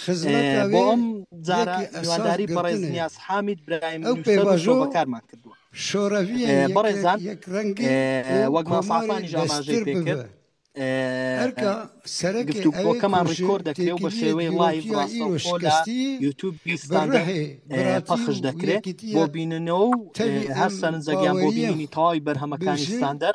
خزمەت ئەوێ بۆ ئەم جارە یەکی ئەساس میوانداری بەڕێز گرتنێ. نیاز حامید برایم ئەو نووسەر و پێباژۆ شرۆڤەکارمان کردووە شۆرەویە ئێ، یەکێک بەڕێزان، یەک ڕەنگی ئێ، و وەک مامۆستا کۆماری عەفانیش ئاماژەی دەستر پێ کرد، ببە ئێ، هەرکە سەرەکێ ئەوێ گفتوگۆکەمان کوژێ ڕیکۆرد دەکرێ و بە تێکیلیە شێوەی لایڤ دیرۆکیە ئیرۆ ڕاستەوخۆ لە شکستی یوتیوبی بە ستاندەر ڕەهێ ئێ، براتی پەخش و دەکرێ بۆ یەکیتیە بیننەوە و ئێ، تەوی هەر ئەم سەرنجەگیان بۆ باوەریە بینینی تەواوی بەرهەمەکانی برژێ ستاندەر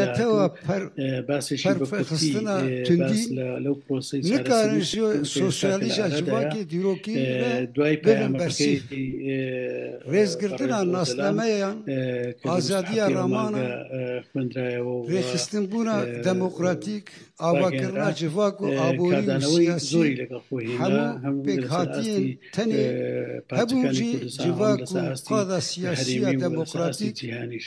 نەتەوە پەر باسێکی بەکوتستنا توندی لەو پرۆسی نکارن سۆسیالیزا جوواکی دیرۆکی دوای پەیام بەرسی ڕێزگرتنان ناسنامەیان ئازادیە ڕامانە خوێندرایەوە ڕێخستن بوونە دەموکراتیک ئاواکردنا جڤاک و ئابووری زۆری لەگەڵ خۆی هەموو پێکهاتین تەنێ هەبوو جڤاک و قادا سیاسیە دەموکراتیک جیهانیش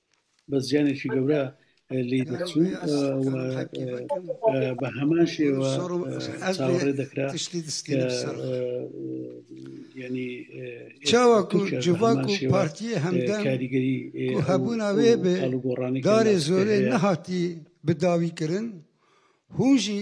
بە زیانێکی گەورە لی دەچوو بە هەمان شێوە چاوەڕێ دەکرا ینی چاوەکو جڤاک و پارتی هەمدا کاریگەری هەبووناوێ بێ گۆڕانی دارێ زۆرێ نەهاتی بداویکردن هوژی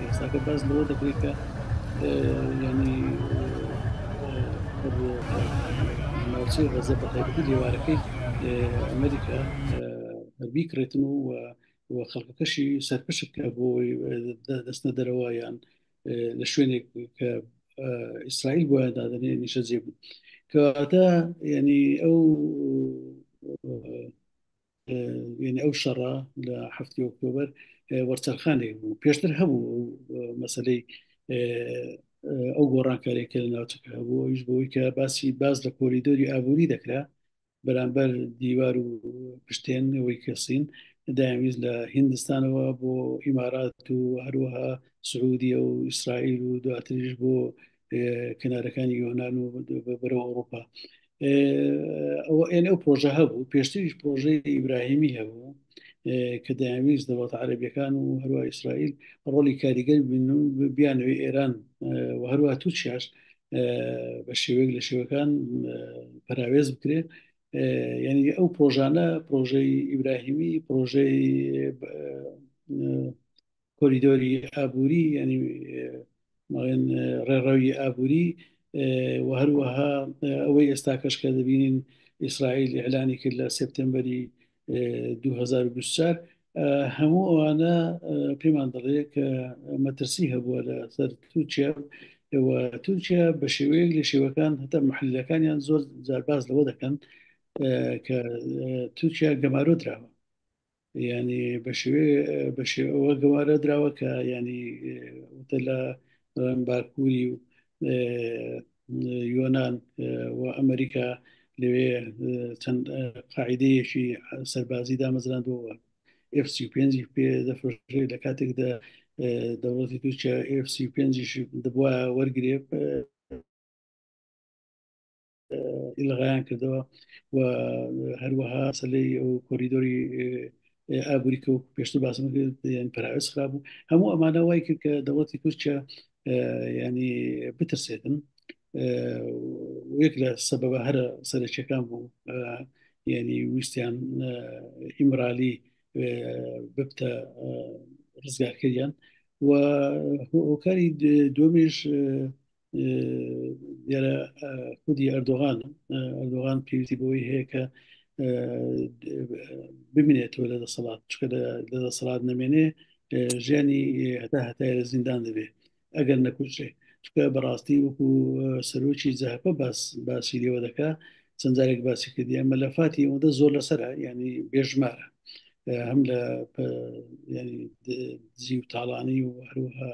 یاساکە باس لەوە دەکرێت کە ینی ناوچەی غەزە بە تایبەتی لێوارەکەی ئەمریکا بیکرێتن و و خەڵکەکەشی سەرپشت کە بۆ دەستنە دەرەوە یان لە شوێنێک کە ئیسرائیل بۆ دادنێ نیشە جێ بوو کەواتە ینی ئەو وێنە ئەو شەڕە لە هەفتی ئۆکتۆبەر وەرچەرخانێک بوو پێشتر هەبوو مەسلەی ئەو گۆڕانکارێک کە لە ناوچەکە هەبوو ئەوش بۆی کە باسی باز لە کۆریدۆری ئابووری دەکرا بەرامبەر دیوار و پشتێن ئەوەی کەسین داویست لە هندستانەوە بۆ ئیمارات و هەروەها سعودیە و ئیسرائیل و دواتریش بۆ کنارەکانی یۆناان و بەرە ئەوروپا ئەوە ئێن ئەو پرۆژە هەبوو پێشتریش پرۆژەی ئیبراهیمی هەبوو کە دەیانویست دەوڵەت عربیەکان و هەروە ئیسرائیل ڕۆلی کاریگەر بین و بیانەوەی ئێران و هەروە تووچیاش بە شێوەیەک لە شێوەکان پراوێز بکرێت یعنی ئەو پرۆژانە پرۆژەی ئیبراهیمی پرۆژەی کۆریدۆری ئابووری ینی ماڵێن ڕێڕەوی ئابووری و هەروەها ئەوەی ئێستا کەش کە دەبینین ئیسرائیل ئەلانی کرد لە سپتمبری 2024 هەموو ئەوانە پێمان دەڵێ کە مەترسی هەبووە لە سەر تووچە تورکیا بە شێوەیەک لە شێوەکان هەتا محلەکانیان زۆر زارباز لەوە دەکەن کە تورکیا گەمارۆ دراوە ینی بەشێ بەشێ ئەوە گەوارە دراوە کە ینی وتە لە باکووری و یۆناان و ئەمریکا لەوێ چەند قاعدەیەکی سەربازی دامەزراندەوە F5 پێ دەفرۆشێ لە کاتێکدا دەوڵەتی تورکیا F5 دەبواە وەرگێ ئیلغایان کردەوە و هەروەها سەلەی ئەو کۆریدۆری ئابووری کە پێشتر باسم یان پراوێز خراپ بوو هەموو ئەمانە وای کرد کە دەوڵەتی تورکیا ینی بترسێتن یەک لە سەبەبە هەرە سەرچەکان بوو ینی ویستیان ئیمرالی ببتە ڕزگارکەیان و هۆکاری دومیش دیارە خودی ئەردۆغان ئەردۆغان پێویستی بەوەی هەیە کە بمێنێتەوە لە دەسەڵات چکە لە دەسەڵات نەمێنێ ژیانی هەتا هەتای لە زیندان دەبێ ئەگەر نەکوچێ چکە بەڕاستی وەکو سەرۆکی زەهپە باس باسی لێوە دەکا چەندجارێک باسی کردی ئەمە لە فاتی ئەوەندە زۆر لەسرە ینی بێژمارە هەم لە زی و تاڵانی و هەروها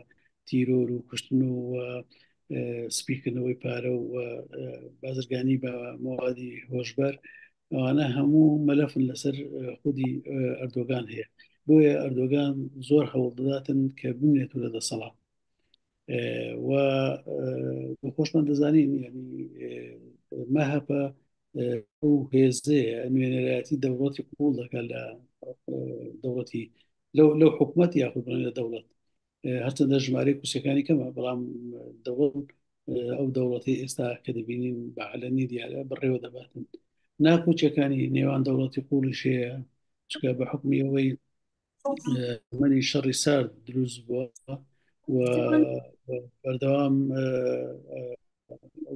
تیرۆر و کوشتن و سپیکردنەوەی پارە و بازرگانی بە موادی هۆشبەر ئەوانە هەموو مەلەفن لەسەر خودی ئەردۆگان هەیە بۆیە ئەردۆگان زۆر هەوڵ دەداتن کە بمێت و لە دەسەڵات و خۆشمان دەزانین مەهەپە ئەو هێزەیە نوێنەرایەتی دەوڵەتی قوڵ دەکات لە دەوڵەتی لەو لەو حکوومەت یاخود لە دەوڵەت هەرچەندە ژمارەی کوسەکانی کەمە بەڵام دەوڵ ئەو دەوڵەتی ئێستا کە دەبینین بەعلەنی دیارە بڕێوە دەباتن ناکوچەکانی نێوان دەوڵەتی قوڵی شەیە چکە بە حکمی ئەوەی منی شەڕی سارد دروست بووە و بەردەوام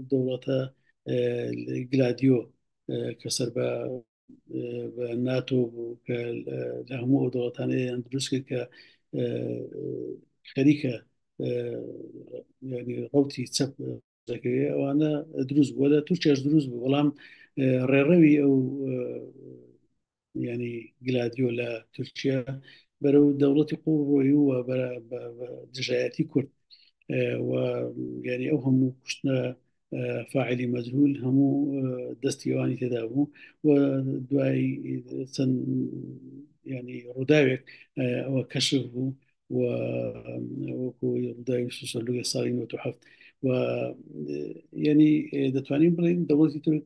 دەوڵەتە گلادیۆ کە سەر بە بە ناتۆ بوو کە لە هەموو ئەو دەوڵەتانەیان دروست کرد کە خەریکە ڕوتی چەپ دەکەوێت ئەوانە دروست بووە لە تورکێش دروست بوو بەڵام ڕێڕەوی ئەو ینی گلادیۆ لە تورکیا بەرەو دەوڵەتی قوڵ ڕۆی و دژایەتی کورد و ینی ئەو هەموو کوشتە فاعلی مەجهول هەموو دەستیوانی تێدا بوو و دوای چەند ینی ڕووداوێک ئەوە کەشف بوو و وەکو ڕووداوی سوسەلوگە ساڵی 1970 و ینی دەتوانین بڵین دەوڵەتی تورک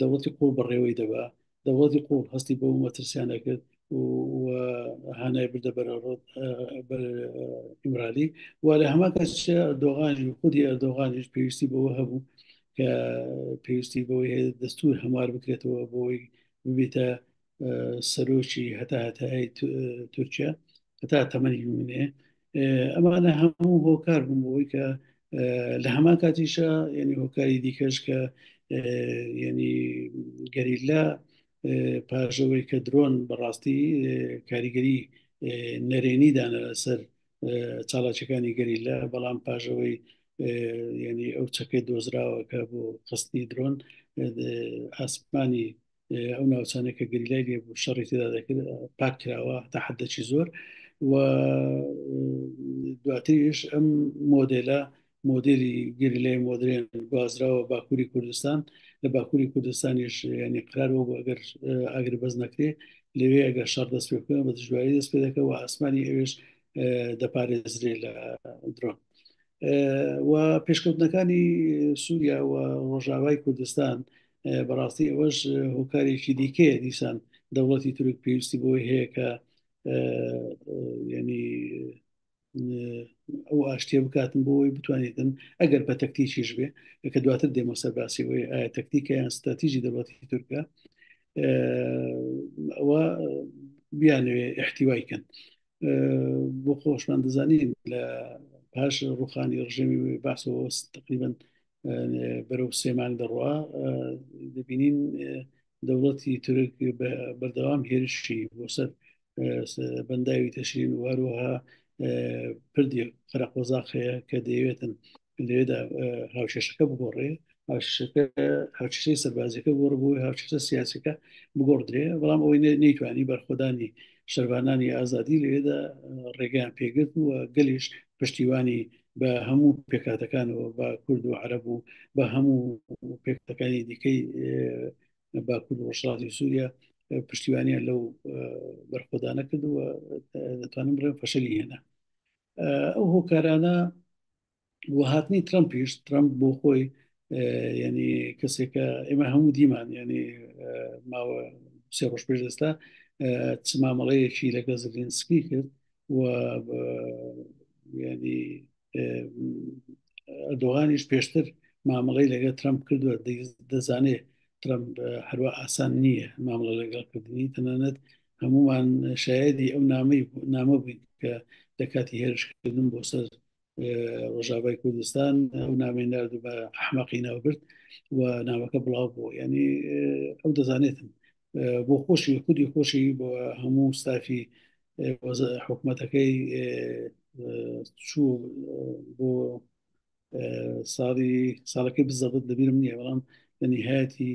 دەوڵەتی قوڵ بەڕێوەی دەبا دەوڵەتی قوڵ هەستی بۆ مەترسیانە کرد و هانای بردە بەرەڕۆت ئیمرالی و لە هەما کەس دۆغانیش خودی ئەردۆغانیش پێویستی بەوە هەبوو کە پێویستی بەوەی هەیە دەستور هەموار بکرێتەوە بۆی ببیتە سەرۆکی هەتا هەتای تورکیا هەتا تەمەنی منێ ئەمانە هەموو هۆکار بوون بۆی کە لە هەمان کاتیشە یعنی هۆکاری دیکەش کە یعنی گەریلا پاژەوەی کە درۆن بەڕاستی کاریگەری نەرێنی دانە لەسەر چاڵاچەکانی گەریلا بەڵام پاژەوەی ینی ئەو چەکەی دۆزراوە کە بۆ قستی درۆن ئاسمانی ئەو ناوچانە کە گەریلای لێ بوو شەڕی تێدا دەکرد پاک کراوە تا حدەچی زۆر و دواتریش ئەم مۆدلە مۆدلی گەریلای مۆدرێن گوازراوە باکووری کوردستان لە باکووری کوردستانیش ینی قرار بۆ ئەگەر ئەگر بەس نەکرێ لەوێ ئەگەر شەڕ دەست پێ بکەن بە دژواری دەست پێ دەکەەوە ئاسمانی ئەوێش دەپارێزرێ لە درۆن و پێشکەوتنەکانی سووریا و ڕۆژاوای کوردستان بەڕاستی ئەوەش هۆکارێکی دیکەیە دیسان دەوڵەتی تورک پێویستی بۆی هەیە کە ینی ئەو ئاشتێ بکاتن بۆی بتوانێتن ئەگەر بە تەکتیکیش بێ کە دواتر دێمەسەر باسی بۆی ئایا تەکتیکە یان ستراتیژی دەوڵەتی تورکە ئەوە بیانوێ احتیوای کەن بۆ خۆشمان دەزانین لە پاش ڕوخانی ڕژێمی باسەوە تقریبن بەرەو سێ مانگ دەڕوا دەبینین دەوڵەتی تورک بەردەوام هێرشی بۆ سەر بەنداوی تەشرین واروها پردی قەرەقۆزاق هەیە کە دەیەوێتن لێدا هاوشێشەکە بگۆڕێ هاوشەی سەربازەکە گۆڕ بۆی هاوشە سیاسەکە بگۆڕدرێ بەڵام ئەوەی نەیتوانی بەرخۆدانی شەربانانی ئازادی لێدا ڕێگەیان پێگرت و گەلیش پشتیوانی بە هەموو پێکاتەکانەوە بە کورد و عرب و بە هەموو پێکەکانی دیکەی باکوور ڕۆژهڵاتی سووریا پشتیوانیان لەو بەرخۆدانە کردووە دەتوانم بڵێن فەشەلی هێنا ئەو هۆکارانە وهاتنی ترمپیش ترمپ بۆ خۆی ینی کەسێکە ئێمە هەموو دیمان ینی ماوە سێ ڕۆژ پێش ئێستا چ مامەڵەیەکی لەگە زلینسکی کرد و ینی ئەدۆغانیش پێشتر مامەڵی لەگە ترمپ کردووە دەزانێت ترمپ هەروە ئاسان نییە مامەڵە لەگەڵکردنی تەنانەت هەمومان شایدی ئەو نامەی نامە بووین کە لە کاتی هێرشکردن بۆ سەر ڕژاوای کوردستان ئەو نامێن نردو بە ئەحمەقی ناوبرد و ناوەکە بڵاو بوو ینی ئەو دەزانێتن بۆ خۆشی خودی خۆشی بۆ هەموو ستافی حکوومەتەکەی چوو بۆ ساڵی ساڵەکەی بزەبت دەبیرم نییە بەڵام لە نهایەتی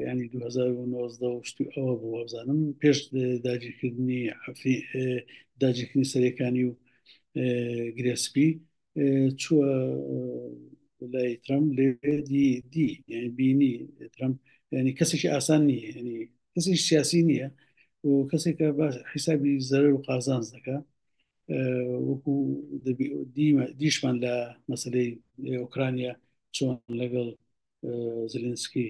ینی 2019 ئەوە بۆ وابزانم پێش داگیرکردنی حەفی داگیرکردنی سەرەکانی و گرێسپی چووە لای ترامپ لێ دی دی یعنی بینی ترامپ ینی کەسێکی ئاسان نییە ینی کەسی سیاسی نییە و کەسێکە باش حیسابی زەرەر و قازانز دەکە وەکو دیشمان لە مەسلەی ئۆکرانیا چۆن لەگەڵ زلنسکی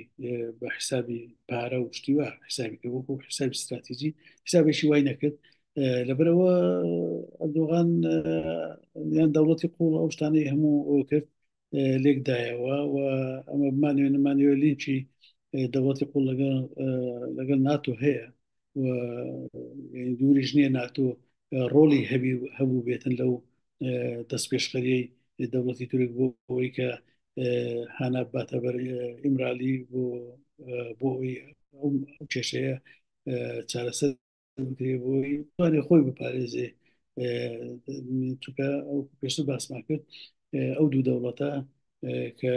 بە حسابی پارە و شتیوە حسابی کە وەکو حسابی استراتیجی حسابێکی وای نەکرد لەبەرەوە ئەردۆغان یان دەوڵەتی قوڵ ئەو شتانەی هەموو ئەو کرد لێکدایەوە و ئەمە بمانوێ نمانەوە لینچی دەوڵەتی قوڵ لەگەڵ لەگەڵ ناتۆ هەیە و دووریش نییە ناتۆ ڕۆڵی هەبی هەبوو بێتن لەو دەست پێشخەریەی دەوڵەتی تورک بۆ ئەوەی کە هانا باتە بەر ئیمرالی بۆ بۆ ئەو کێشەیە چارەسەر بۆی توانێ خۆی بپارێزێ چونکە ئەو پێشتر باسمان کرد ئەو دوو دەوڵەتە کە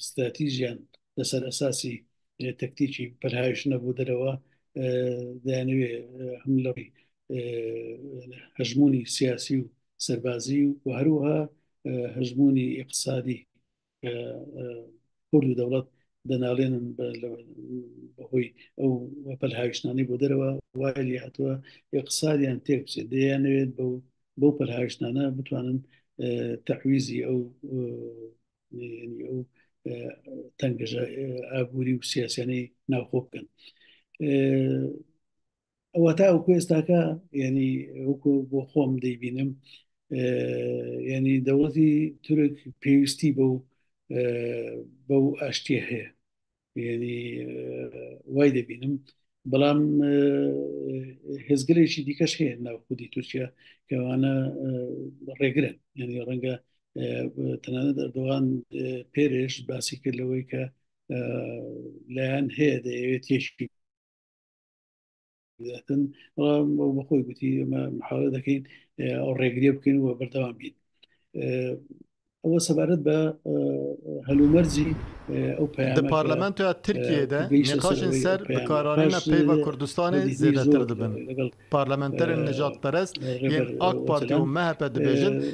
ستراتیژیان لەسەر ئەساسی تەکتیکی پەرهایش نەبوو دەرەوە دەیانوێ هەم لەڕی هەژمونی سیاسی و سەربازی و هەروها هەژمونی اقتصادی کورد و دەوڵەت دەناڵێنن بەهۆی ئەو وەپەل هاویشتانی بۆ دەرەوە وای لێ هاتووە اقتصادیان تێک بچێت دەیانەوێت بەو بەو پەرهاویشتانە بتوانن تەعویزی ئەو ئەو تەنگژە ئابووری و سیاسیانەی ناوخۆ بکەن ئەوە تا ئەوکو ئێستاکە ینی وەکو بۆ خۆم دەیبینم ینی دەوڵەتی تورک پێویستی بەو بەو ئاشتیە هەیە ینی وای دەبینم بەڵام هێزگەلێکی دیکەش هەیە ناو خودی تورکیا کەوانە ڕێگرن ینی ڕەنگە تەنانە دەردوان پێرێش باسی کرد لەوەی کە لایەن هەیە دەیەوێت تێشکی دەتن بەخۆی گوتی ئەمە محاولە دەکەین ئەو ڕێگرێ بکەین و بەردەوام بین ئەوە سەبارەت بە هەلومەرجی ئەو پەرلەمانتە ترکیەدا نقاشن سەر بەکارانە پێی بە کوردستانی زیاتر دەبن لەگەڵ پارلەمانتەرن نەجات پەرست یەک ئاک پارتی و مەهپە دەبێژن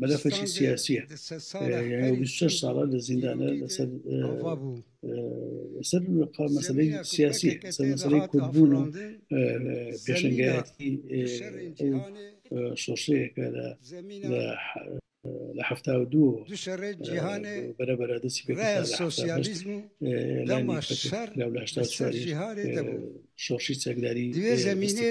مەلەفەکی سیاسیە ساڵە لە زیندانە لەسەر سەر مەسلەی سیاسی سەر مەسلەی کوردبوون و پێشنگایەتی شۆشەیەکە لە لە هەفتا و دوو بەرەبەرە دەسی پێ سۆسیالیزم و لەمە شەر لە شۆشی چەکداری دوێ زمینێ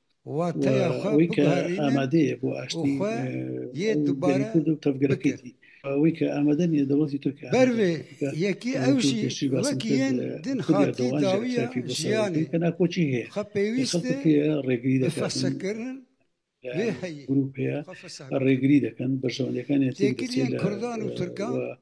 ئەوەی کە ئامادەیە بۆ ئاشتی کورد و تەڤگەرەکەیەتی ئەوەی کە ئامادە نیە دەوڵەتی تورکیا بەروێ یەکی ئەوشی وەکیێن دن خاتی داویە ژیانی کە ناکۆچی هەیە خە پێویست ڕێگری دەفەسەکردن گروپ هەیە ڕێگری دەکەن بەشەوەندەکانی تێکردن کوردان و تورکان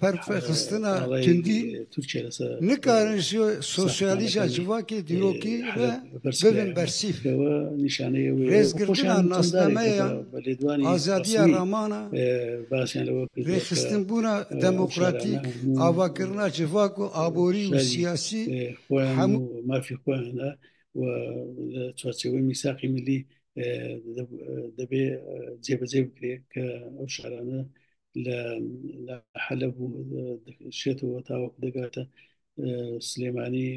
پەرتفەی خستنە توندی تورکیە لەسەر نکارن سۆسیالیزا جڤاکی دیۆکی ببن بەرسیف نیشانەیە رێزگرتنان ناسنامەیە لێدوانی ئازادیە ڕامانە باسیان لەوە رێخستن بوونە دەموکراتیک ئاواکردنا جڤاک و ئابووری و سیاسی هەموو مافی خۆیانە و چوارچەوەی میساقی ملی دەبێ جێبەجێ بکرێت کە ئەو شارانە لە حەلە شێتەوە تاوەکو دەگاتە سلێمانی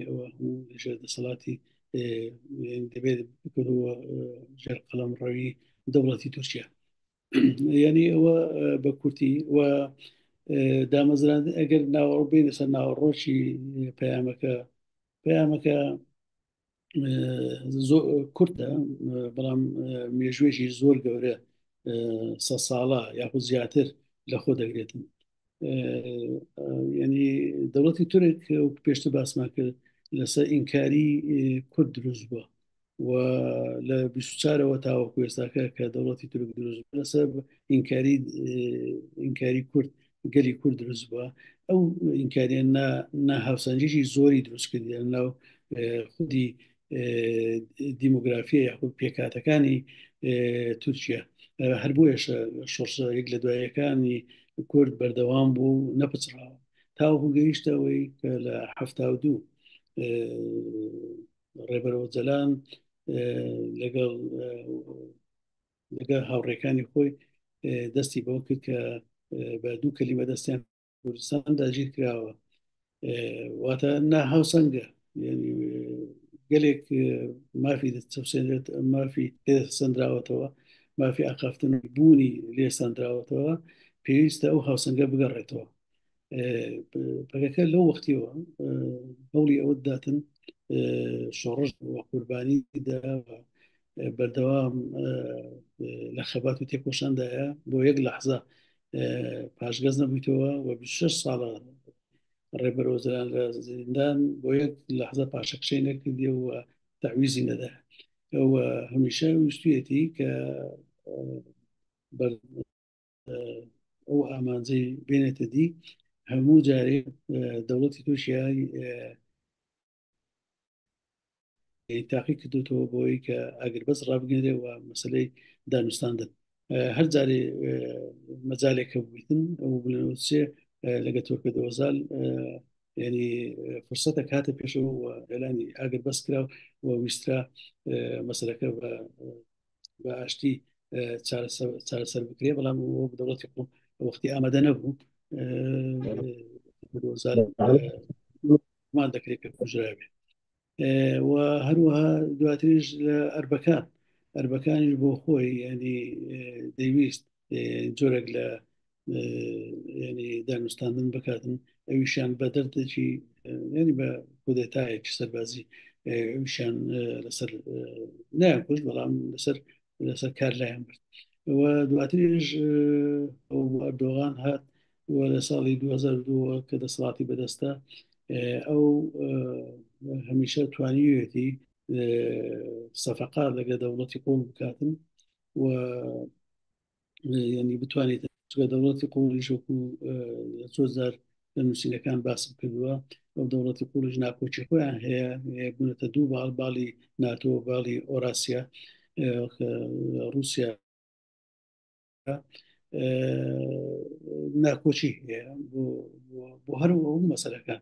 ژێر دەسەڵاتی دەبێت بکردەوە ژێر قەڵم ڕەوی دەوڵەتی تورکیا یعنی ئەوە بە کورتی و دامەزران ئەگەر ناوەڕ بین لەسەر ناوەڕۆکی پەیامەکە پەیامەکە زۆر کورتە بەڵام مێژوێژی زۆر گەورە سە ساڵە یاخود زیاتر لە خۆ دەگرێتن ینی دەوڵەتی تورک و پێشتر باسمان کرد لەسەر ئینکاری کورد دروست بووە و لە بیچارەوە تاوەکو ێستاکە کە دەوڵەتی تورک دروست لەسەر ئینکاری ئینکاری کورد گەلی کورد دروست بووە ئەو ئینکاریان نا هاوسەنجێکی زۆری دروست کردیان ناو خودی دیموگرافیە یاخود پێکاتەکانی تورکیا هەر بۆیش شۆرسە یەک لە دوایەکانی کورد بەردەوام بوو نەپچڕاوە تاوەکو گەیشتەوەی کە لە هەفتا و دوو ڕێبەرەوە جەلان لەگەڵ لەگە هاوڕێکانی خۆی دەستی بەو کرد کە بە دوو کەلیمە دەستیان کوردستان داگیر کراوە واتە نا هاوسەنگە گەلێک مافی چەسێنێت مافی سندراوەتەوە مافی ئاقافتن بوونی لێساندراوەتەوە پێویستە ئەو هاوسەنگە بگەڕێتەوە پەکەکە لەو وەختیەوە هەوڵی ئەوە داتن شۆڕش بووە قوربانی دا بەردەوام لە خەبات و تێکۆشاندایە بۆ یەک لە حزە پاشگەز نەبوویتەوە و 6 ساڵە ڕێبەر وەزران لە زیندان بۆ یەک لە حزە پاشەکشەی نەکردی و تاویزی نەدا ئەوە هەمیشە ویستێتی کە ئەو ئامانجەی بێنێتە دی هەموو جارێ دەوڵەتی تورکیای تاقی کردوتەوە بۆی کە ئەگەر بەس ڕابگەێ و مەسلەی دانوستاندن هەر جارێ مەجالێکە ببیتن ئەو بلێ لەگە تۆکە دۆزال ینی فرسەتە کاتە پێشەوە ئەلانی ئاگر بەس کرا و ویسترا مەسلەکە بە ئاشتی چارەسەر بکرێ بەڵام دەوڵەتی خۆ وەختی ئامادە نەبوو مان دەکرێت پێ کوژراوێ و هەروەها دواتریش لە ئەربەکان ئەربەکانیش بۆ خۆی ینی دەیویست جۆرێک لە ینی دانوستاندن بکاتن ئەویشان بە دەردێکی ینی بە کودێتایەکی سەربازی ئەوشان لەسەر نایان کوشت بەڵام لەسەر لەسەر کار لایەن برد و دواتریش دۆغان هات و لە ساڵی 2002 کە دەسەڵاتی بەدەستە ئەو هەمیشە توانیوێتی سەفقا لەگە دەوڵەتی قوڵ بکاتن و ینی بتوانێت دەوڵەتی قوڵی شوک و زۆزار لە نووسینەکان باسم کردووە ئەو دەوڵەتی قوڵش ناکۆچی خۆیان هەیە بوونەتە دوو باڵ باڵی ناتۆ باڵی ئۆراسیا رووسیا ناکۆچی هەیە بۆ هەر ئەو مەسەرەکان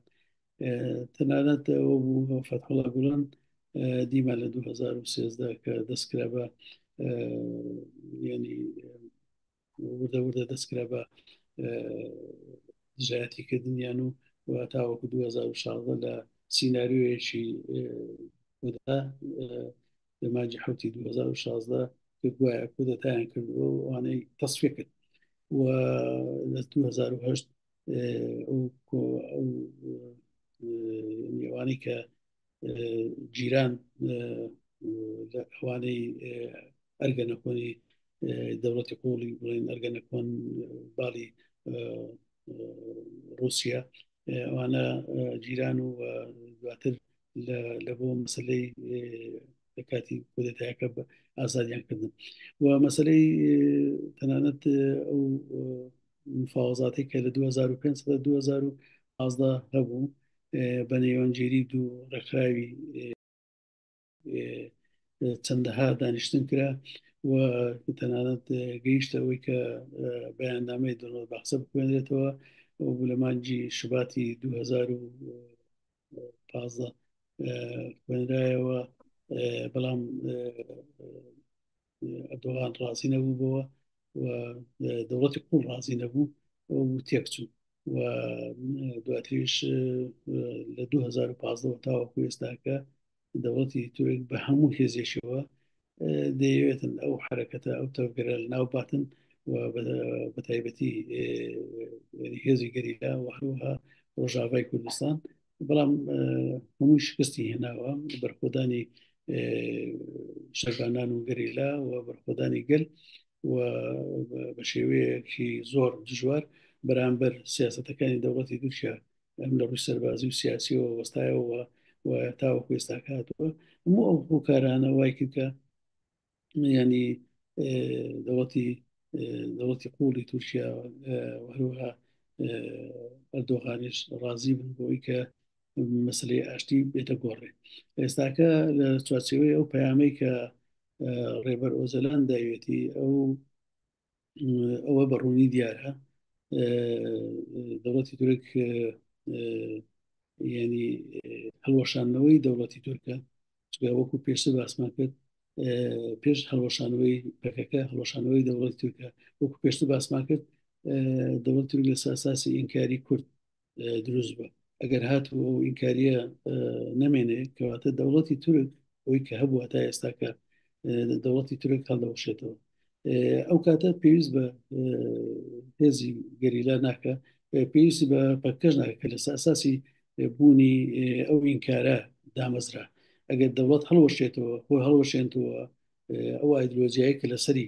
تەنانەت ئەوە بوو فەتحڵا گوڵان دیما لە 2013 کە دەستکرا بە ینی وردە وردە دەستکرا بە دژایەتی کردنیان و و تاوەکو 2016 لە سینناریۆیەکی لە ماجی حوتی 2016 گوایە کودەتایان کردەوە ئەوانەی تەسفێ کرد و لە 2010 ئەوانەی کە جیران ئەوانەی ئەرگە نەکۆنی دەوڵەتی قوڵی بڵێن ئەرگە نەکۆن باڵی رووسیا ئەوانە جیران و دواتر لە بۆ مەسلەی لە کاتی کودەتایەکە بە ئازادیان کردن و مەسلەی تەنانەت ئەو مفاوەزاتی کە لە 2005 بە 2011 هەبوو بە نێوەنجێری دوو ڕێکخراوی چەندەها دانیشتن کرا و تەنانەت گەیشتە ئەوەی کە بەیاننامەی دەڵۆت بەخسە بخوێنێتەوە بوو لە مانجی شوباتی 2015 خوێنرایەوە بەڵام ئەردۆغان ڕازی نەبوو بەوە و دەوڵەتی قوڵ ڕازی نەبوو و تێکچوو و دواتریش لە 2015 تاوەکو ئێستاکە دەوڵەتی تورک بە هەموو هێزێشەوە دەیەوێتن ئەو حرەکەتە ئەو تەوگەرە ناو باتن و بەتایبەتی هێزی گەریلا و هەروها ڕۆژاوای کوردستان بەڵام هەمووی شکستی هێناوە بەرخۆدانی شەربانان و گەریلا و بەرخۆدانی گەل و بە شێوەیەکی زۆر دژوار بەرامبەر سیاستەکانی دەوڵەتی دوچە ئەم لە ڕووی سەربازی و سیاسیەوە وەستایەوە و تاوەکو ئێستاکاتەوە هەموو ئەو هۆکارانە وای کردکە ینی دەوڵەتی دەوڵەتی قوڵی تورکیا هەروەها ئەردۆغانیش ڕازی بن بۆی کە مەسلەی ئاشتی بێتە گۆڕێ ئێستاکە لە چوارچەوەی ئەو پەیامەی کە ڕێبەر ئۆزەلان داوێتی ئەو ئەوە بەڕوونی دیارە دەوڵەتی تورک ینی هەڵوەشانەوەی دەوڵەتی تورکە وەکو پێشتر باسمان کرد پێش هەڵوەشانەوەی پەکەکە هەڵوەشانەوەی دەوڵەت تورکە وەکو پێشتر باسمان کرد دەوڵەت تورک لە ساساسی ئینکاری کورد دروست بە ئەگەر هاتوو ئەو ئینکاریە نەمێنێ کەواتە دەوڵەتی تورک ئەوی کە هەبووە تا ئێستاکە دەوڵەتی تورک هەڵدەوشێتەوە ئەو کاتە پێویست بە هێزی گەریلا ناکە پێویستی بە پەکەش ناکە کە لە ساساسی بوونی ئەو ئینکارە دامەزرا ئەگەر دەوڵەت هەڵوەشێتەوە خۆ هەڵوەشێنتەوە ئەو ئایدلۆجیایی کە لەسەری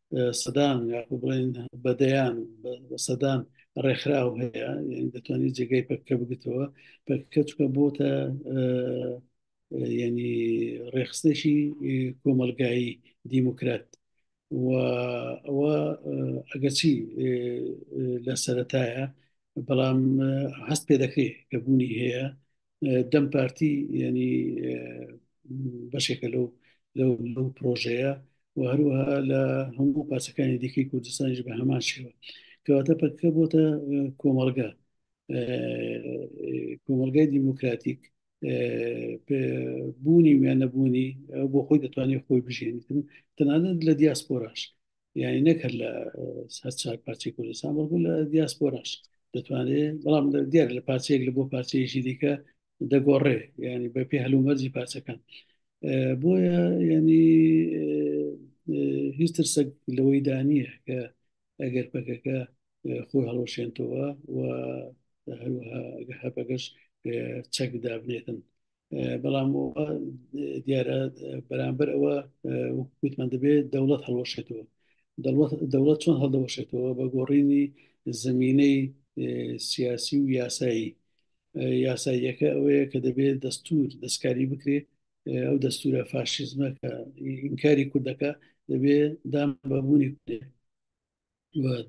سەدان یاخو بڵێن بەدەیان سەدان ڕێکخراو هەیە دەتوانانی جێگای پەکە بگتەوە پەکە چکە بۆتە ینی ڕێخستێکی کۆمەلگایی دیموکرات و ئەوە ئەگەچی لە سەتایە بەڵام هەست پێ دەکرێت کە بوونی هەیە دەم پارتی ینی بەشێکە لەو لەو پرۆژەیە و هەروەها لە هەموو پاسەکانی دیکەی کوردستانیش بە هەمان شێوە کەواتە پەکە بۆتە کۆمەلگا کۆمەلگای دیموکراتیک بوونی وێ نەبوونی بۆ خۆی دەتوانێت خۆی بژێنیتن تەنانەت لە دیاسپۆراش یعنی نەک هەر لە هەر چار پارچی کوردستان بەڵکو لە دیاسپۆراش دەتوانێت بەڵام دیار لە پارچەیەک لە بۆ پارچەیەکی دیکە دەگۆڕێ ینی بە پێ هەلومەرجی پارچەکان بۆیە ینی هیچ ترسەک لەوەی دانیە کە ئەگەر پەکەکە خۆی هەڵۆشێنتەوە و هەروەها هەپەگەش چەک دابنێتن بەڵام دیارە بەرامبەر ئەوە وتمان دەبێت دەوڵەت هەڵۆشێتەوە دەوڵەت چۆن هەڵدەوەشێتەوە بە گۆڕینی زمینەی سیاسی و یاسایی یاساییەکە ئەوەیە کە دەبێت دەستور دەستکاری بکرێت ئەو دەستورە فاشیزمەکە ئینکاری کوردەکە دەبێت دام بەبوونی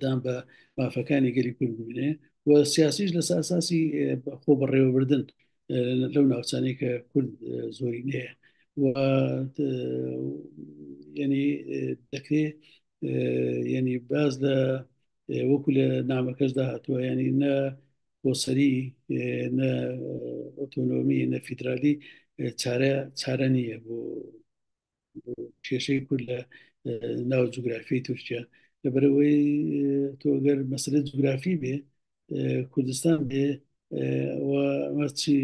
دان بە مافەکانی گەلی کورد ببنێ و سیاسیش لە ساساسی خۆ بەڕێوەبردن لەو ناوچانەی کە کورد زۆری نەیە و ینی دەکرێ ینی باز لە وەکو لە نامەکەشدا هاتووە ینی نە بۆسەری نە ئۆتۆنۆمی نە فیدرالی چارە چارە نییە بۆ کێشەی کورد لە ناو جوگرافی تورکیا لەبەرەوەی تۆگەر مەسلە جوگرافی بێ کوردستان بێ چی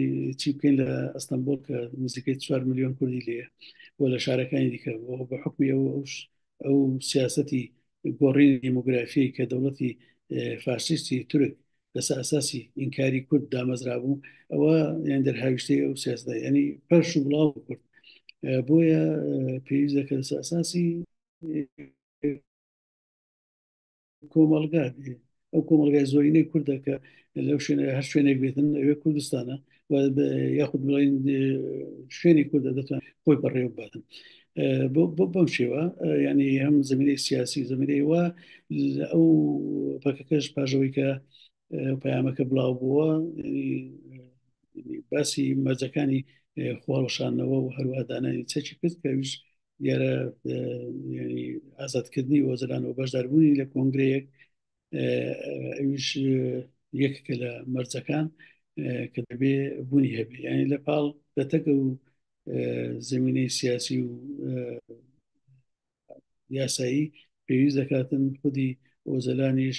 چی بکەین لە ئەستەمبول کە نزیکەی 4 میلیۆن کوردی لێ و لە شارەکانی دیکە بۆ بە حکمی ئەو ئەو سیاستی گۆڕینی دیموگرافی کە دەوڵەتی فارسیستی تورک لەسەر ئەساسی ئینکاری کورد دامەزرابوو ئەوە یان دەرهاویشتی ئەو سیاستە ینی پەرش و بڵاو کورد بۆیە پێویست دەکە لەسەر ئەساسی کۆمەڵگا ئەو کۆمەڵگای زۆرینەی کوردە کە لەو شوێنە هەر شوێنێک بێتن ئەوێ کوردستانە یاخود بڵین شوێنی کوردە دەتوان خۆی بەڕێو باتن بۆ بەم شێوە ینی هەم زمینەی سیاسی زمینەی وا ئەو پەکەکەش پاژەوەی کە پەیامەکە بڵاو بووە باسی مەرجەکانی خواڵشانەوە و هەروادانانی چەکی کرد کەویش دیارە ئازادکردنی وەزران و بەشداربوونی لە کۆنگرەیەک ئەوش یەکەکە لە مەرجەکان کە دەبێ بوونی هەبێ یعنی لە پاڵ دەتەکە و زمینەی سیاسی و یاسایی پێویست دەکاتن خودی ئۆزەلانیش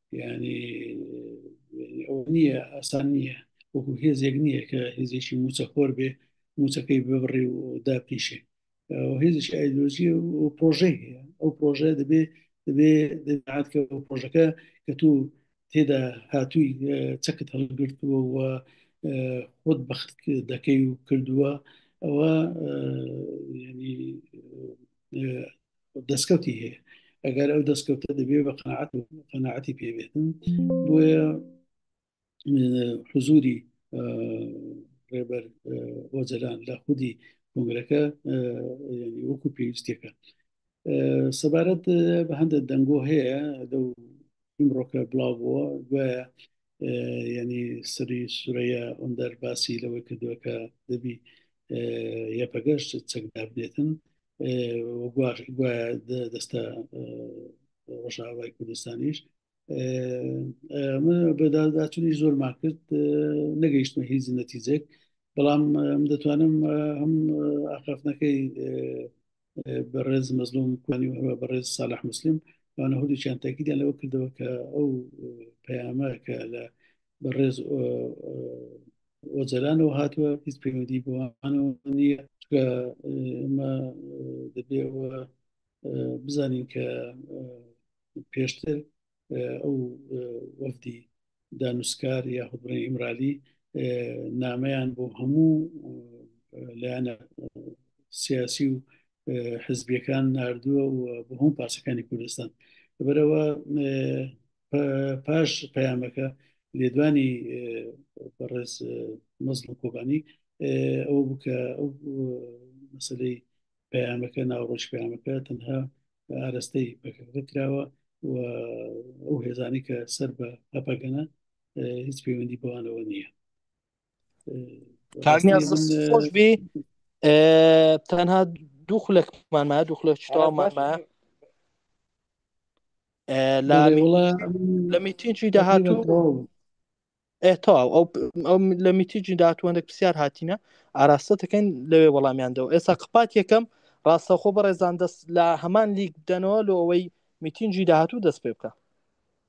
ینی ئەو نییە ئاسان نییە وەکو هێزێک نییە کە هێزێکی موچەخۆر بێ موچەکەی ببڕێ و داپیشێ هێزێکی ئایدۆژی و پرۆژەی هەیە ئەو پرۆژە دەبێ دەبێ دەعاتکە پرۆژەکە کە تو تێدا هاتووی چەکت هەڵگرتووە و خۆت بەخت دەکەی و کردووە ئەوە دەستکەوتی هەیە ئەگەر ئەو دەستکەوتە دەبێ بە قەنەعەت و قەنەعەتی پێبێتن بۆیە حزوری ڕێبەر ئۆجەلان لە خودی کۆنگرەکە وەکو پێویستەکە سەبارەت بە هەندێک دەنگۆ هەیە لەو ئیمڕۆکە بڵاو بووە گوایە یعنی سری سورەیە ئەم دەرباسی لەوەی کردووە کە دەبی یەپەگەشت چەکدابنێتن گوایە دەستە ڕژاوای کوردستانیش من بەداداچنی زۆرمان کرد نەگەیشتمە هیچ نەتیجێک بەڵام دەتوانم هەم ئاخافنەکەی بەڕێز مەزلوم کوانی وهەروە بەڕێز سالاح مسلم وانە هەردووچیان تاکیدیان لەوە کردەوە کە ئەو پەیامە کە لە بەڕێز ئۆجەلانەوە هاتووە هیچ پەیوەندی بۆوانەوە نییە ئمە دەبێەوە بزانین کە پێشتر ئەو وەفدی دانوستکار یا هەبڕی ئیمرالی نامەیان بۆ هەموو لایەنە سیاسی و حزبیەکان نردووە و بە هەم پاسەکانی کوردستان بەرەوە پاش پەیامەکە لێدوانی بەڕێز مەزم کۆبانی ئەو بکە ئەو مەسلەی پەیامەکە ناوڕۆژ پەیامەکە تەنها ئارستەی پەکەکە کراوە و ئەو هێزانی کە سەر بە هەپەگەنە هیچ پەیوەندی بەوانەوە نییە خۆش بی تەنها دوو خولەکمانما دوو خولە شتاومانما لە میتینی داهاتوو تەواو ئەو ئەو لە میتیجی دااتوانێک پرسیار هاتینە ئاراستە دەکەین لەوێ وەڵامیاندەوە ئێستا قپات یەکەم ڕاستەخۆ بەڕێزان دەست لە هەمان لیک بدەنەوە لۆ ئەوەی میتینجی داهاتوو دەست پێ بکە